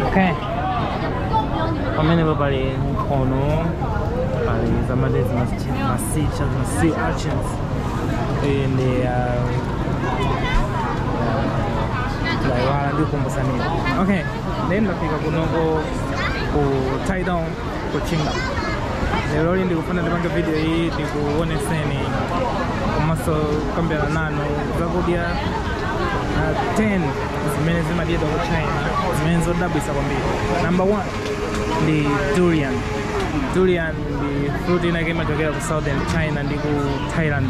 Okay. Pamenepo pali nkhono, pali zam'madzi ma sea, ma sea, ma sea urchins. And uh, laiwala ndikumbutsa nini. Okay. Then ndafika kunoko ku Taidong ku Qingdao. Lero ndikufuna ndipange video iyi ndikuoneseni komanso kukambirana nanu zakudya uh, 10 zimene zimadyedwa ku china zimene zodabwitsa kwambiri number one ndi durian durian ndi fruit inake imachokera ku southern china ndi ku thailand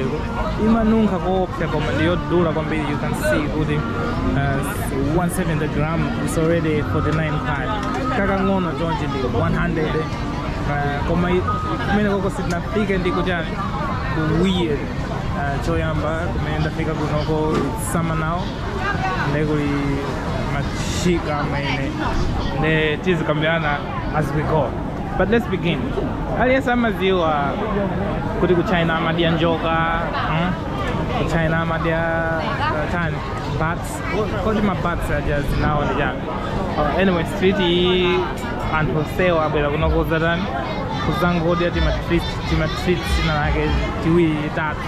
imanunkha koopsa koma ndi yodula kwambiri you can see kuti uh, 170 gram is already 49 pad kakang'ono chonchi ndi 100 uh, koma i- kumene koko sitinafike ndi ku chani weird uh, choyamba kumene ndafika kunoko it's sama nawo ndi kuli masika ameneyo ndiye tizikambirana as we go but let's begin aliyense amadziwa kuti ku china amadya njoka mm? ku china amadya uh, chani bats kodi ma bats aja dzina lawo ndi chani uh, anyway street iyi anthu onsewo abwera kuno kudzatani kuzangodya timatreat timatreat tinatake tiwiri tatu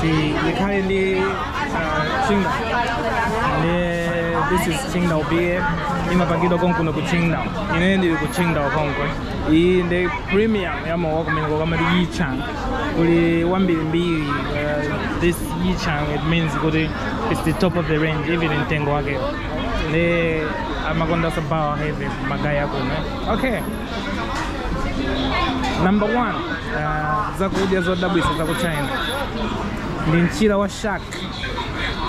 Tikhale ndi uh, Qingdao. Ndiye this is Qingdao beer. Imapangidwa konkuno ku Qingdao. Ine ndili ku Qingdao konko. Iyi ndi premium ya mowa kumeneko amati Yichang. Kuli wambirimbiri uh, this Yichang it means kuti it's the top of the range even mtengo wake. Ndiye amakonda sabawa heavy ma guy akuno. Okay. number one uh, zakudya zodabwitsa za ku china ndi mchira wa shark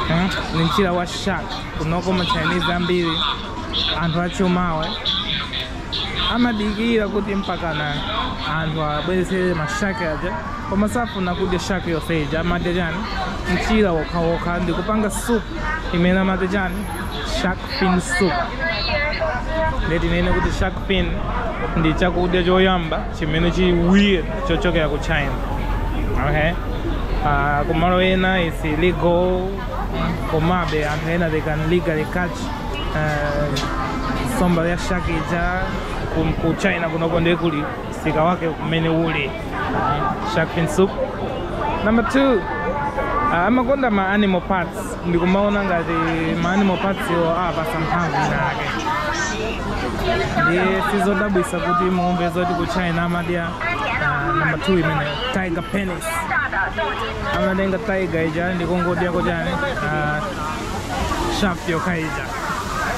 eh? ndi mchira wa shark kunoko ma chinese ambiri anthu achumawe amadikira kuti mpakana anthu abweretsere mashaki aja koma safuna kudya shaki yonse ija amadya chani mchira wokhawokha ndi kupanga soup imene amadya chani shark fin soup ndiye tinene kuti shark fin ndi chakudya choyamba chimene chili weird chochokera ku china okay uh, kumalo ena is illegal komabe anthu ena they can legally catch uh, nsomba ya shark ija ku- ku china kunoko ndiye kuli msika wake kumene uli shark fin soup number two uh, amakonda ma animal parts Ndikumaona ngati ma animal parts awapatsa mphamvu ina yake ndiye sizodabwisa kuti muumve zoti ku China amadya ah, number 2 imene tiger penis amatenga tiger ija ndikungodya ka chani ah, shaft yokha ija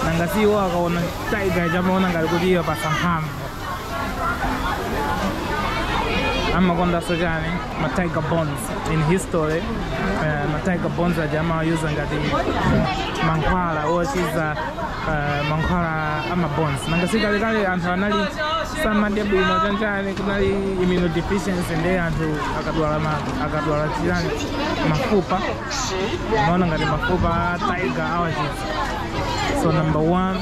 nanga si iwo akaona tiger ija amaona ngati kuti iwapatsa mphamvu amakondanso chani ma tiger bones in history eh, ma tiger bones aja amawayuza ngati mankhwala ochiza eh, mankhwala ama bones nanga si kalekale anthu anali samadya bwino chanchani kunali immunodeficiency nde anthu akadwala ma- akadwala chirani mafupa amaona ngati mafupa a tiger awachiza so number one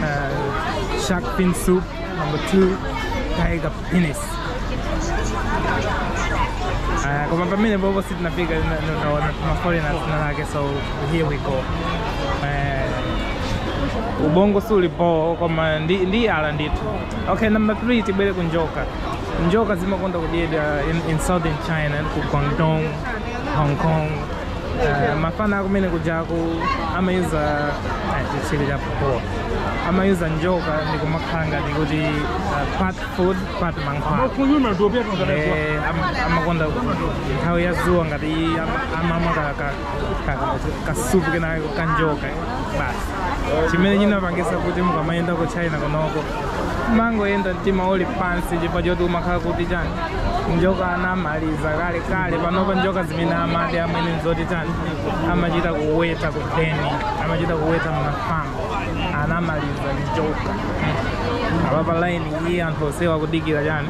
Uh, shark fin soup number two tiger penis uh, koma pamene popo sitinafika kuma foreigners ena ake so here we go uh, ubongo suuli boo koma ndi, ndi ala ndithu okay number three tibwere ku njoka njoka zimakonda kudyedwa in, in southern china ku guangdong hong kong Eh, mafana akumene kujaku amayuza eh, chi chani amayuza njoka ndi kumakhala ngati kuti eh, part food part mankhwala Eh, am- amakonda nthawi ya zuwa ngati iyi ama- amamwa ka- ka- ka- kasupu kena kake kanjoka basi chimene chinapangisa kuti mukamayenda ku china kunoko mangoyenda mtima uli pansi chifukwa choti umakhala kuti chani njoka anamaliza kale kale panopa njoka zimene amadya amwene nzoti chani amachita kuweta kudeni amachita kuweta mmafamu anamaliza njoka apapa laini iyi anthu onsewa akudikira chani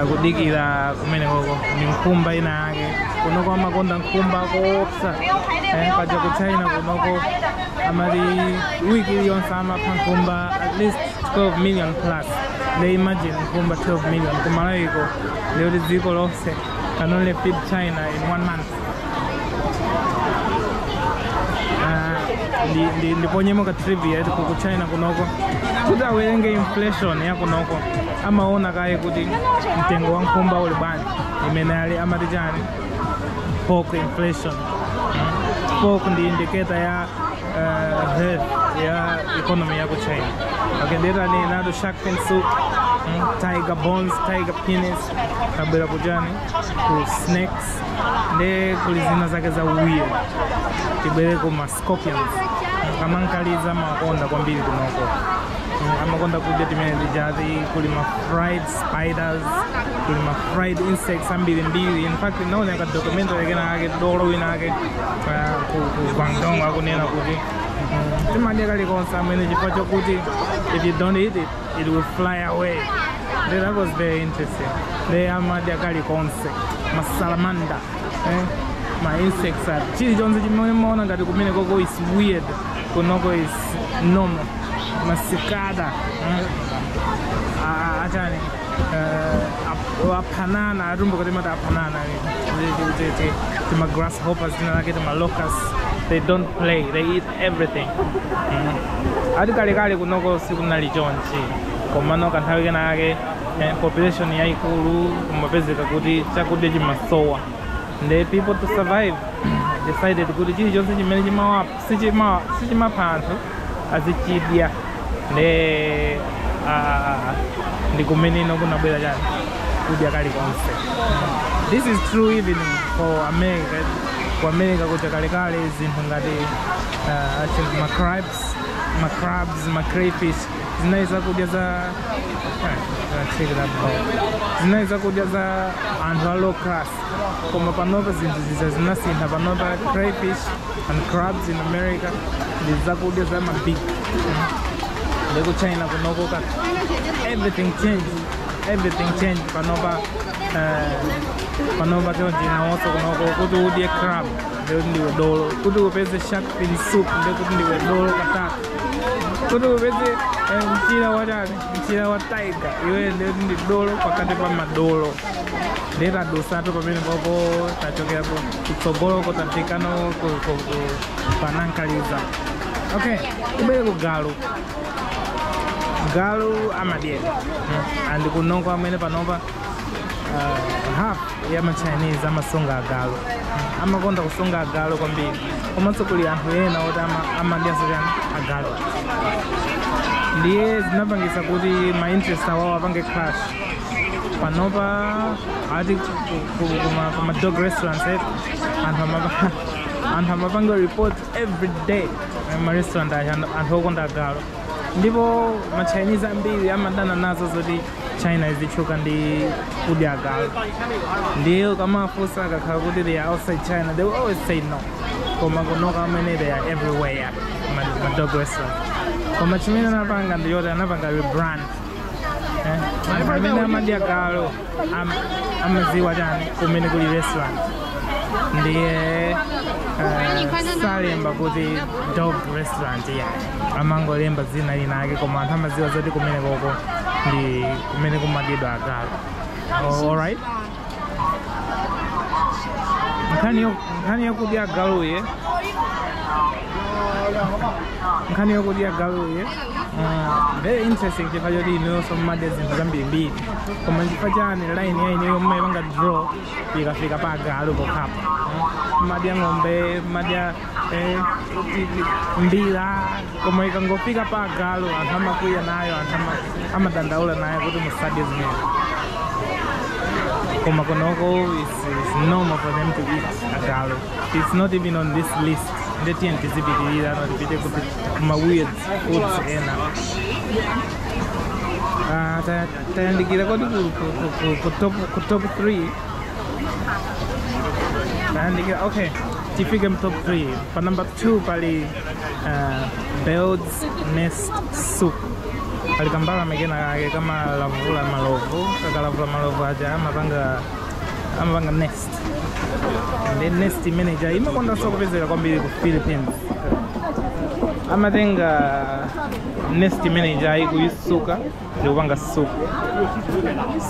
akudikira kumeneko ndi nkhumba ina yake kunoko amakonda nkhumba koopsa eh, paja ku china kunoko amati wiki iliyonse amapha nkhumba at least 12 million plus nde imagine nkhumba 12 million ku Malawiko lero dziko lonse can only feed china in one month ndi- ndi- ndiponyemo ka trivia eti ku china kunoko kuti awerenge inflation ya kunoko amaona kaye kuti mtengo wa nkhumba uli bwanji imene ali amati chani pork inflation pork ndi indicator ya uh, health ya economy ya ku china akendeta ndinati shark fin soup mm, tiger bones tiger penis tabwera ku chani kuli snakes nde kuli zina zake za weird tibwereko ma scorpions kamankaliza amakonda kwambiri kunoko amakonda kudya zimene zijazi kuli ma fried spiders kuli ma fried insects ambirimbiri in fact ndinaonera documentary ina yake dolo wina ake ah, ku ku guangdong akunena kuti mm, timadya kalikonse amwene chifukwa chokuti if you don't eat it it will fly away They- that was very interesting they amadya kalikonse masalamanda eh? ma insects are chilichonse chimene mumaona ngati kumene koko is weird kunoko is normal masikada eh? Ah, achani eh, ap- aphanana atumbuka timati aphanana timagrasshoppers tina take timalocus they don't play they eat everything mm. ati kalekale kunoko sikunali chonchi komano kanthawi kena kake eh, population yaikulu kumapezeka kuti chakudya chimasowa nde people to survive decided kuti chilichonse chimene sichimapha anthu azichidya nde ndi kumene kunabwera chani kudya kalikonse this is true even for america ku america kuja kalekale zinthu ngati uh, I think macrabs macrabs macrayfish zinali zakudya za eh, I'll check that out. zinali zakudya za anthu a low class koma panopa zinthu ziza zinasintha panopa crayfish and crabs in america ndi zakudya za mabig ndi ku china kunoko ka everything change everything change panopa eh, panopa ku china konse kunoko kuti udye crab ndikuti ndiwe dolo kuti upeze shark fin soup ndikuti ndiwe dolo katatu kuti upeze eh, mchira watani mchira wa tiger iwe nde ndiwe dolo pakati pa madolo ndiye tadutsatu pamene popo tachokera ku kutsogoloko tafikano ku- ku- ku- pa nankaliza okay tibwere ku galu galu amadyedwa Mm. and kunoko amwene panopa uh, half ya machinese amasunga agalu amakonda kusunga agalu kwambiri komanso kuli anthu ena oti ama- amadyanso chani agalu ndiye zinapangisa kuti ma interest awawo apange clash panopa ati kuma dog restaurants eh, anthu amapa- anthu amapanga report every day eh, ma restaurant aja anthu okonda agalu ndipo ma chinese ambiri amadana nazo zoti China imatchuka ndi kudya agalu ndiye ukamafunsa akakhala kuti they are outside China they will always say no koma kunoko amene they are everywhere ma- ma dog restaurant koma chimene anapanga ndi yoti anapanga rebrand eh? Anthu amene amadya galu am- amadziwa chani kumene kuli restaurant ndiye eh, salemba kuti dog restaurant yeah. amangolemba dzina lina ake koma anthu amadziwa zoti kumene kuja ndi kumene kumadyedwa agalu Oh, alright nkhani yo- nkhani yokudya agaluyi nkhani yokudya agaluyi Uh, very interesting chifukwa choti inuyonso mumadya zinthu zambirimbiri koma chifukwa chani line yanuyo mumayipanga draw ikafika pa agalu pokhapo mumadya ng'ombe mumadya eh, mbira koma ikangofika pa agalu anthu amakwiya nayo anthu ama- amadandaula nayo kuti musadye zimene koma kunoko is, is normal for them to eat agalu it's not even on this list nde tiyeni tizipitirira nde tipite kuti kuma weird foods ena Ah, ta- tayandikira kodi ku- ku- ku- ku- ku top- ku top 3 Ayandikira, okay, Tifike mu top three. Pa number two, pali uh, Bird's Nest Soup. Pali kambalame kena kake kamalavula malovu, kakalavula malovu aja amapanga amapanga nest. Ndiye nest imene ija imakondanso kupezeka kwambiri ku Philippines. Amatenga nest imene ija n'kuyitsuka ndikupanga soup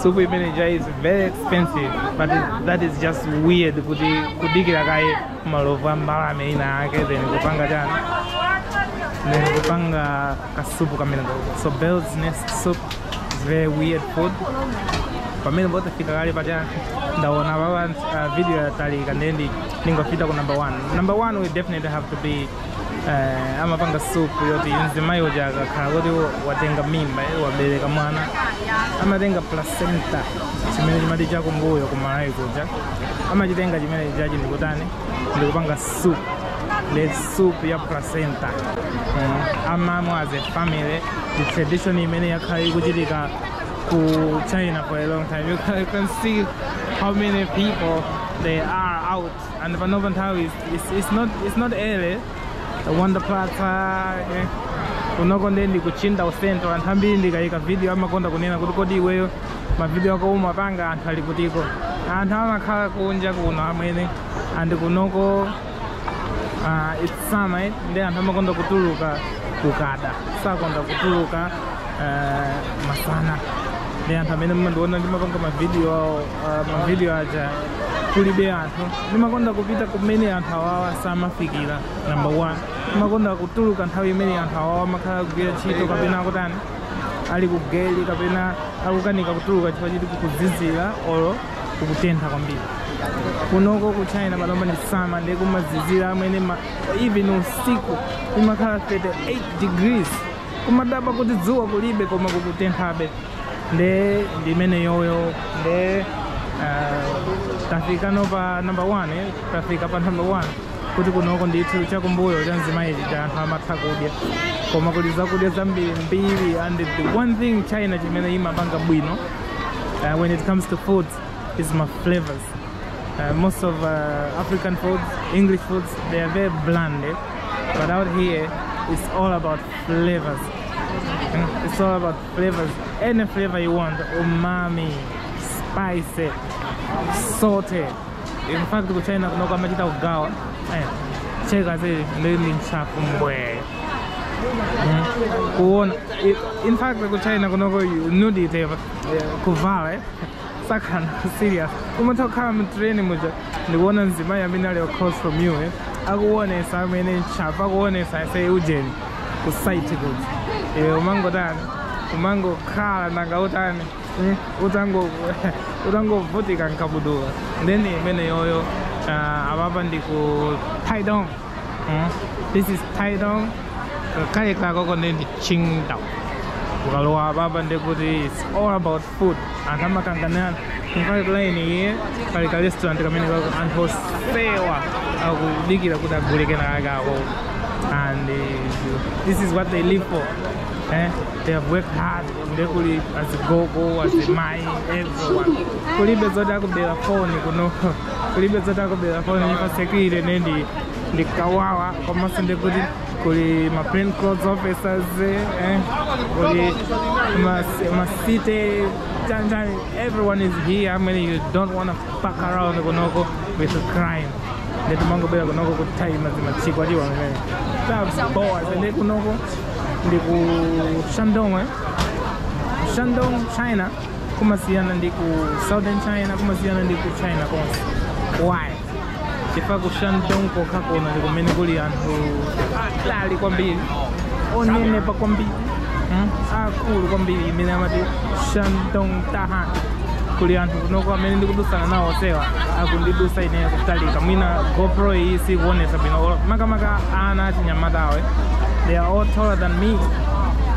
soup imene ija is very expensive but that is just weird kuti kudikira kaye malovu a mbalame ina yake then kupanga chani then kupanga kasupu kameneko so bird's nest soup is very weird food pamene tafika kale apa ndaona kuti uh, video yatalika nde ndingopita ku number one number one will definitely have to be eh, amapanga supu yoti mzimayi uja akakhala kuti watenga mimba eh, wabereka mwana amatenga placenta chimene chimati chakumbuyo kuMalawi kuja amachitenga chimene chija ndikutani ndikupanga supu the soup ya placenta mm. amamwa as a family ndi tradition imene yakhala ikuchitika ku China for a long time you can see how many people they are out And panopa nthawi is- it's, it's not it's not early. Wanda Plaza eh. Kunoko nde ndikuchinda ujeni to anthu ambiri ndikayika video amakonda kunena kuti kodi iweyo mavideo ako umapanga anthu ali kutiko. Anthu amakhala kunja kuno amwene and kunoko uh, it's summer eh, ndi anthu amakonda kutuluka kukada sakonda kutuluka uh, masana ndi anthu amene mumandiona ndimapanga mavidiyo ah, mavidiyo aja kulibe anthu ndimakonda kupita kumene anthu awawa samafikira number one ndimakonda kutuluka nthawi imene anthu awawa amakhala akugwira ntchito kapena akutani ali kugeli kapena akukanika kutuluka chifukwa choti kukuzizira olo kukutentha kwambiri kunoko ku china panopa ndi sama ndiye kumazizira amwene ma- even usiku imakhala 38 degrees kumadabwa kuti dzuwa kulibe koma kukutenthabe nde ndi imeneyoyo nde ah, tafikano pa number 1 eh, tafika pa number 1 kuti kunoko ndithu chakumbuyo cha mzimayi chija anthu amatha kudya koma kuli zakudya zambiri mbiri and the one thing china chimene imapanga bwino uh, when it comes to food is ma flavors. Uh, most of uh, African foods, English foods, they are very bland. eh? But out here, it's all about flavors. Mm, It's all about flavors any flavor you want umami spicy salty in fact ku china kunoko amachita kugawa eh, cheka zili ndili mchafu mbwee kuona i- in fact ku china kunoko you need it eh, kuvala eh. sakana serious umatha kukhala mu train muja ndikuona mzimayi amene ali across from you eh, akuonesa amwene chapa akuonesa ese ujeni ku site kuti eh, umangotani umangokhala nanga utani eh, utango utangovutika nkabudula nde ndi imeneyoyo uh, apapa ndi ku taidong mm. this is taidong kale kakoko ndi ndi qingdao ukalowa apapa ndikuti it's all about food anthu amakanganirana kumkati line iyi pali ka restaurant kameneko ako anthu onsewa akudikira kuti agule kenakake ako and uh, this is what they live for eh? they have worked hard nde kuli azigogo azimai everyone kulibe zoti akubera foni kuno kulibe zoti akubera foni nyumba sekile nendi ndikawawa komanso ndekuti kuli ma plain clothes officers eh? kuli mas, masite tantan everyone is here I mean you don't want to fuck around kunoko with crime nde timangobwera kunoko kuthayima zimasiku atiwa mene tabowa zende kunoko ndi ku shandong eh? shandong china kumasiyana ndi ku southern china kumasiyana ndi ku china konse why chifukwa ku shandong kokha kuno ndi kumene kuli anthu atali kwambiri onenepa kwambiri mm, akulu kwambiri imeneyo amati shandong tahan kuli anthu kunoko amene ndikudusana nawo onsewa akundidusa ineyo kutalika mwina gopro iyi sikuonesa bwino Olo- makamaka ana achinyamatawe they are all taller than me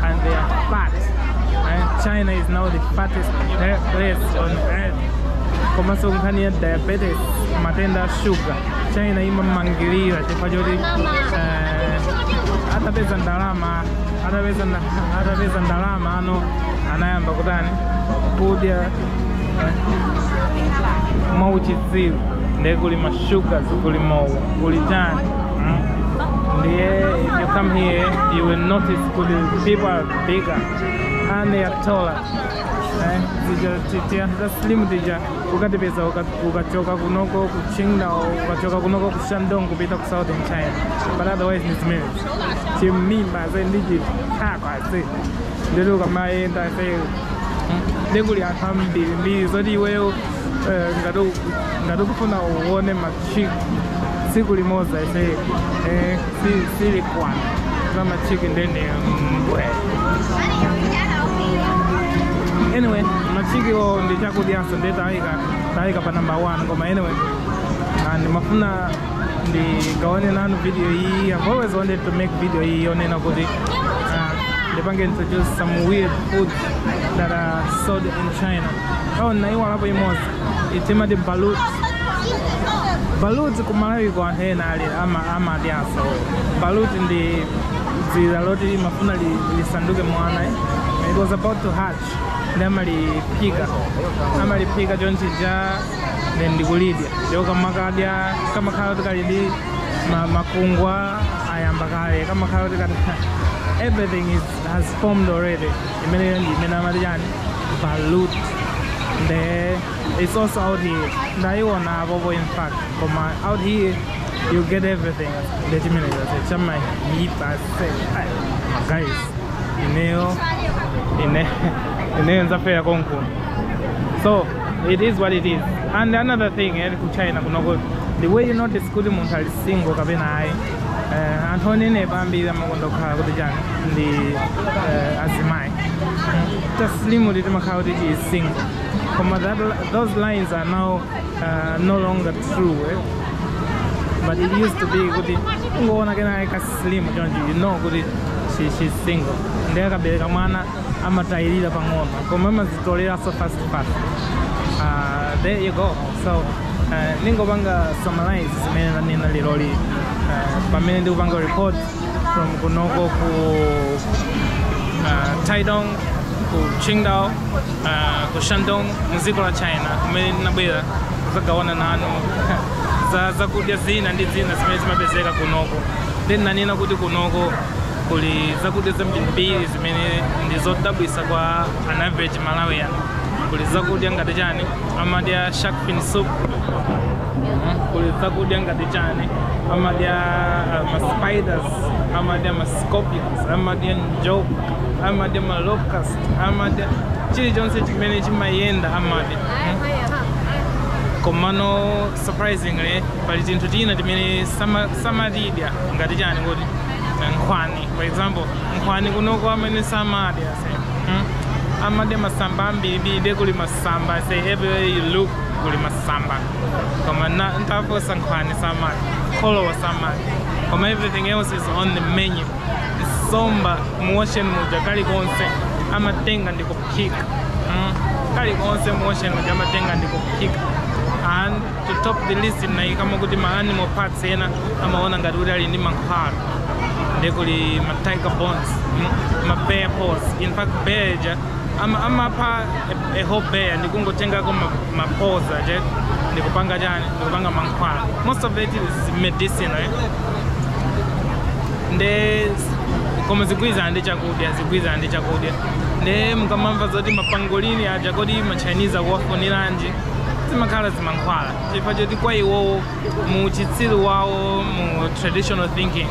and they are fat and china is now the fattest place on earth komanso nkhani ya diabetes matenda a shuga china ikumangirira chifukwa choti eh, atapeza ndalama atapeza nda- atapeza ndalama anthu anayamba kutani kudya eh, mwauchitsiru ndiye kuli mashuga kuli mowa kuli chani mm. ndiye if you come here you will notice kuli people are bigger and they are taller Eh, tija ti- tianthu ta slim tija ukatipeza uka- ukachoka kunoko ku qingdao ukachoka kunoko ku shandong kupita ku southern china but otherwise ni zimene chimimba ze ndi chithakwa ze ndili ukamayenda ze kuli anthu ambirimbiri zoti iweyo eh, ngati u- ngati ukufuna uone ma chick tsiku limodzi ase eh, si- silikwana za machiki ndene mbwe anyway machiki wo ndi chakudyanso ndi tayika pa number one koma anyway ndimafuna ndigawane nanu video iyi i've always wanted to make video iyi yonena kuti uh, ndipange introduce some weird food that are sold in china oh naiwalapo imodzi timati balut balut kumalawiko anthu ena ali ama- amadyanso balut ndi dzira loti limafuna li- lisanduke mwana it was about to hatch nde amaliphika amaliphika chonchija then ndikulidya ndipo kamakadya kamakhala kuti kali ndi ma- makungwa ayamba kale kamakhala kuti kati everything is, has formed already imeneyo ndi imene amati chani balut nde it's also out here ndayiona apopo in fact koma out here you get everything nde chimene chase chamaipa ase Ai, guys ineyo ine ineyo ndzafera konkuno so it is what it is and another thing eh, ku china kunoko the way you notice kuti munthu ali single kapena ayi Eh, anthu onenepa ambiri amakonda kukhala kuti chani ndi eh, azimayi ta slimu ti timakhala kuti tili single koma that, li- those lines are now uh, no longer true eh? but it used to be kuti ungoona kena ka slimu choncho you know kuti she, she's single ndiye akabereka mwana amatayirira pang'ono koma amazitoleranso fast fast Ah, there you go so eh, ndingopanga summarize zimene nanena leroli eh, pamene ndikupanga report from kunoko ku uh, Taidong ku Qingdao uh, ku Shandong mu dziko la China kumene ndinabwera kuzagawana nanu za zakudya zina ndi zina zimene zimapezeka kunoko then nanena kuti kunoko Kuli zakudya zambirimbiri zimene ndi zodabwisa kwa an average Malawian. Kuli zakudya ngati chani, amadya shark fin soup, kuli zakudya ngati chani, amadya uh, ma spiders, amadya ma scorpions, amadya njoka, amadya ma locust, amadya chilichonse chimene chimayenda amadya. Komano surprisingly pali tinthu tina timene sama- samatidya ngati chani kuti nkhwani for example nkhwani kunoko amene samadyanso hmm? amadya masamba ambirimbiri nde kuli masamba so everywhere you look kuli masamba koma ntafunsa nkhwani samadya kholowa samadya koma everything else is on the menu somba muocean muja kalikonse amatenga ndi kuphika hmm? kalikonse muocean muja amatenga ndi kuphika and To top the list ndinayikamo kuti ma animal parts ena amaona ngati kuti ali ndi mankhwala nde kuli ma tiger bones mm, ma bear paws in fact bear ija ama- amapha a, a whole bear ndikungotengako ma, ma paws aja ndikupanga chani ndikupanga mankhwala most of it is medicine eh? nde koma zigwirizana ndi chakudya zigwirizana ndi chakudya nde mukamamva zoti mapangolini aja kodi ma chinese akuwafuniranji zimakhala zimankhwala chifukwa choti kwa iwowo mu uchitsiru wawo mu traditional thinking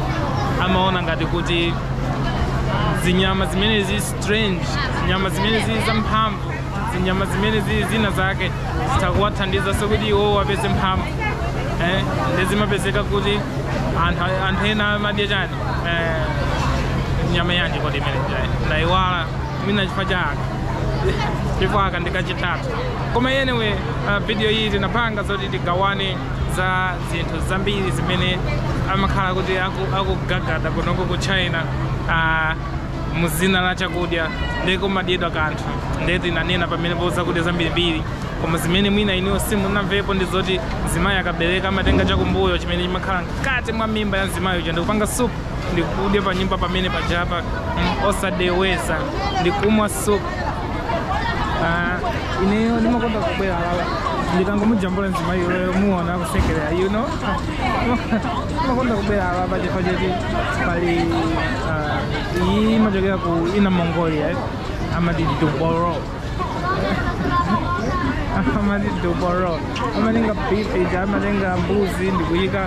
amaona ngati kuti zinyama zimene zili strange zinyama zimene zili zamphamvu zinyama zimene zili zina zake zitha kuwathandizanso kuti iwowo apeze mphamvu eh, nde zimapezeka kuti anthu anthu ena amadya chani eh, nyama yanji kodi imene ndayiwala mwina chifukwa cha aka chifukwa aka ndikachitatu Koma anyway uh, video iyi tinapanga zoti tigawane za zinthu zambiri zimene amakhala kuti aku- akugagada kunoko ku china uh, muzina la chakudya ndiye kumadyedwa kanthu ndiye tinanena pamenepo zakudya zambirimbiri koma zimene mwina iniwo simunamvepo ndi zoti mzimayi akabereka amatenga chakumbuyo chimene chimakhala mkati mwa mimba ya mzimayi uja ndikupanga supu ndikudya pa nyumba pamene pajapa mm, osadeweza ndikumwa so ah, ineyo ndimakonda kubwera lawa ndikangomujambula mzimayi wewe muona akusekerera you know ndimakonda kubwera lawa pachifukwa choti pali ah, iyi imachokera ku Inner Mongolia eh, amati duboro amati duboro amatenga beef ija amatenga mbuzi ndikuyika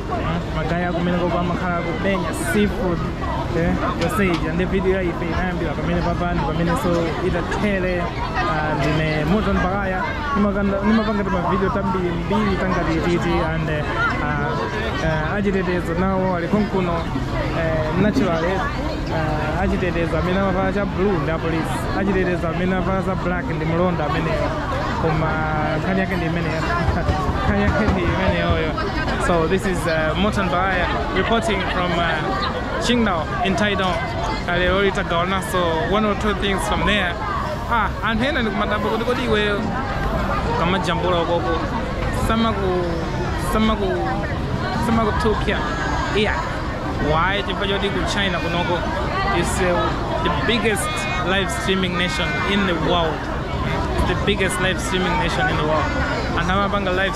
magaye akumeneko pamakhala kumenya seafood eh, yonse ija ndi video ya ife inayambira pamenepa apa ndi pamenenso itathere ah, ndine Morton Baghaya ndimakonda- ndimapanga timavideo tambirimbiri tangati titi and eh, ah, eh, achitetezo nawo ali konkuno eh, natural eh, ah, achitetezo amene amavala cha blue ndi apolisi achitetezo amene amavala za black ndi mlonda ameneyo koma nkhani yake ndi imeneyo nkhani yake ndi imeneyoyo So this is uh, Morton Baghaya reporting from uh, Qingdao in Taidong. Aliroli takaona so one or two things from there. Ah, anthu ena ndikumadabwa kuti kodi iweyo ukamajambula ukoko samaku samaku samakuthukya ayi why chifukwa choti ku china kunoko is uh, the biggest live streaming nation in the world the biggest live streaming nation in the world anthu amapanga live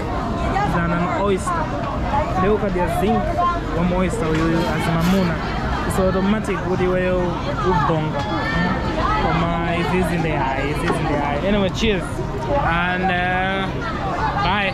zanan oyster nde ukadya zin ma oyster uyu azimamuna so automatic kuti iweyo ubonga koma izizi ndi ayi izizi ndi ayi anyway cheers and uh, bye